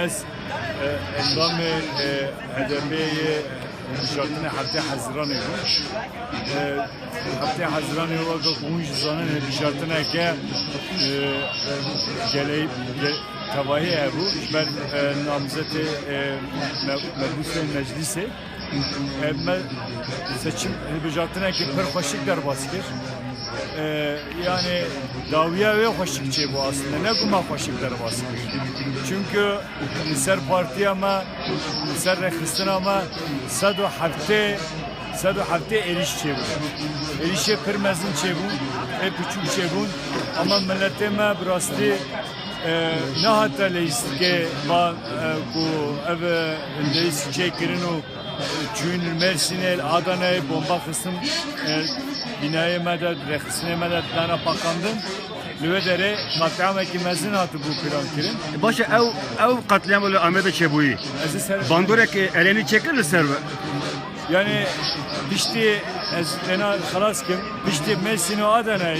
Ez endamê HDP'ê yê hilbijartinê Heftê Hezîranê bûm. Heftê Hezîranê weke ku hûn jî zanin hilbijartineke geleyî tevayê hebû ji ber namzetê mebûsên meclîsê. Me seçim hilbijartinekî pir xweşik derbas kir. Yani dawiya wê xweşik çêbû aslinde ne ku me xweşik derbas kir. Çünkü li ser partiya me li ser rexistina me sed û heftê sed û heftê êrîş çêbû. Êrîşê pir mezin çêbû, pê piçûk çêbûn ama milletê me bi rastî nehate leyîstikê va ku ev Hindês çê kirin û çûyîn li Mêrsînê li Adaneyê bomba xistin bînayê me de rêxistinê me de dana paqandin. Li wê derê qatliamekî mezin hatibû pirankirin. Baş e ew ew qatliam li Amedê çêbûyî. Bandorek Erenî çêkir li ser we. Yani piştî ez têna xelas kim piştî Mêrsîn û Adaneyê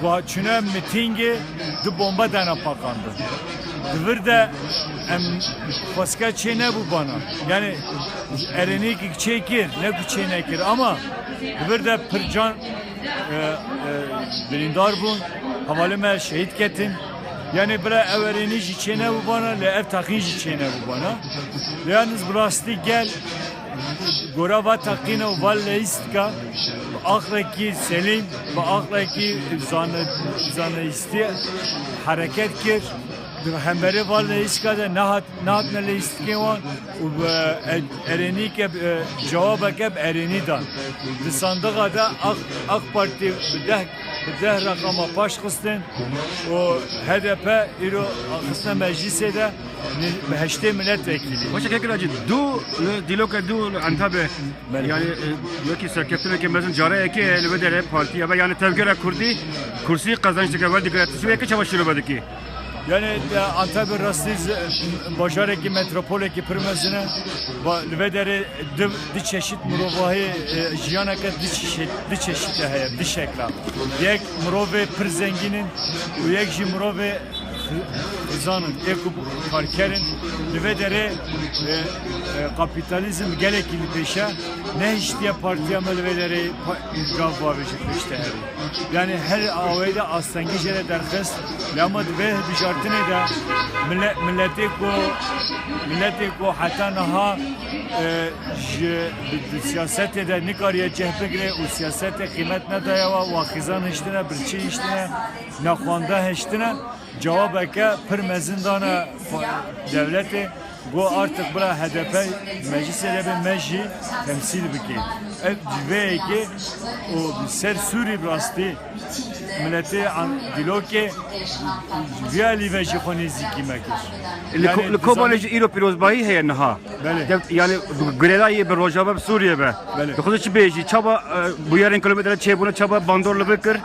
Ku çûne mitîngê du bombe dana paqandin. Di vir de em xwesika çê nebû bana. Yanî erenîkî çê kir ne ku çê nekir ama di vir de pir can birîndar bûn, hevalên me şehîd ketin. Yanî bila ew erênî jî çê nebû bana lê ev teqîn jî çê nebû bana. Lê yalnîz bi rastî gel Ji gora va teqîna û va leyîstika bi aqlekî selîm, bi aqlekî zanayîstî hereket kir. Di hemberî va leyîstika de nehatine leyîstikên wan û bi erênîke cewabeke bi erênî dan. Di sandixa de Ak Partî bi deh reqama paşxistin û hdp îro xistine meclîsê de. Bi heştê miletvekîlî. Xweşe keke ra cî du li dîloke du li Entabê yani wekî serkeftineke mezin careyekê li vê derê partiya ve yani tevgera Kurdî kursî qezençteke wer digire tu şûyeke çawa şîrove dikî? Yani Antabi rastî bajarekî metropolekî pir mezin e. Li vê derê du du çeşît mirovahî jiyaneke du çeşît du çeşît de heye du şekla. Yek mirovê pir zengîn in û yek jî mirovê Dizanin ê ku karker in li vê derê kapîtalîzm gelekî li pêş e, nehiştiye partiya me li vê derê gav bavêje pêş te herî. Yanî her awayî de astengî jê re derxist lê hema di vê hilbijartinê de miletê ku miletê ku heta niha ji siyasetê de nikariye cih bigire û siyasetê qîmet nedaye we, wa xizan hiştine, birçî hiştine, Nexwanda hiştina cewabeke pir mezin dana dewletê, got artik bila hdp meclisê de be me jî temsîl bike. Ev ji vê yekê û bi ser Sûrî bi rastî miletê dîlokê ji vê alî ve jî xwe nêzîkî me kir. Li Kobanê jî îro pîrozbahî heye niha. Yanî girêda yê bi rojava bi Sûriyê be. Dixwazin çi bêjî? Çawa bûyerên kilometre çêbûne çawa bandor li vir kir?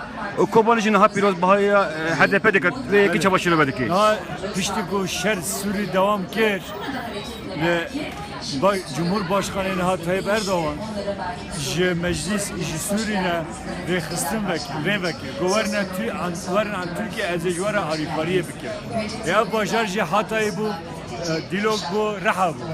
û Kobanî jî niha pîrozbahiya HDP'ê dike, lê yekê çawa şîrove dike? Niha piştî ku şer Sûrî dewam kir li Cumhurbaşkanê niha Tayyip Erdogan ji Meclîs û ji Sûrî ne rêxistin vekir, rê vekir ku werin an Tirkiye ez ê ji we re alîkariyê bikim. Ê ev bajar jî Hatayê bû, Dîlok bû, Riha bû.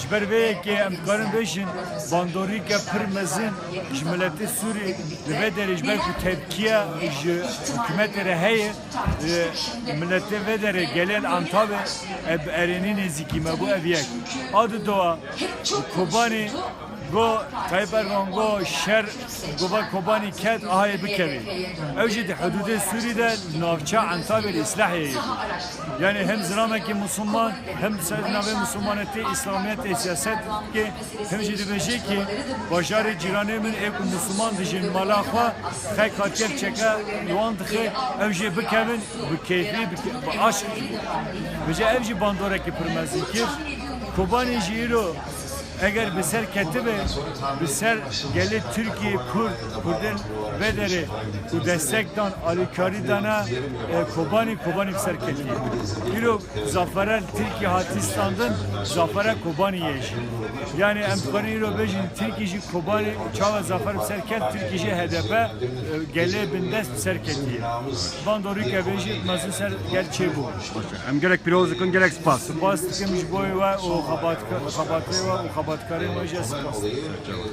Ji ber vê yekê em dikarin bêjin bandorîke pir mezin ji miletê Sûrî, Li vê derê ji ber ku tepkiya ji hikûmetê re heye, miletê vê derê gelê li Antawê ev bi erênî nêzîkî me bû. Ev yek. A di dowa Kobanî got Tayyîp Erdogan got şer bi gova Kobanî ket a heye bikevê. Ew jî di hidûdê Sûrî de li navçeya Antawê li Îslahyeyê bû. Yanî hem zilamekî misliman hem di ser navê mislimanetê, îslamiyetê, siyasetê dike. Hin jî dibêje ke bajarê cîranê min ê ku Musliman dijîn mala xwe xeka çek çeke li wan dixe ew jê bikevin bi keyfî bi aşk jî bije ev jî bandorekî pir mezin kir. Kobanî jî îro eger bi ser ketibe bi ser gelê Tirkî, Kurd, Kurdin vê derê ku destek dan alîkarî dane Kobanî, Kobanî bi ser ketiye. Îro zafere li Tirkî hatî standin zafere Kobanî ye. Yanî em dikarin îro bêjin Tirkî jî Kobanê û çawa zafer bi ser ket Tirkî jî hdp gelê bindest bi ser ketiye. Bando Rîkevê jî mezin ser gel çêbû. Baş e. Em gelek pîroz dikin, gelek spas. Spas dikim ji boyê we û xebatkarên we û xebatkarên we jî ez spas dikim.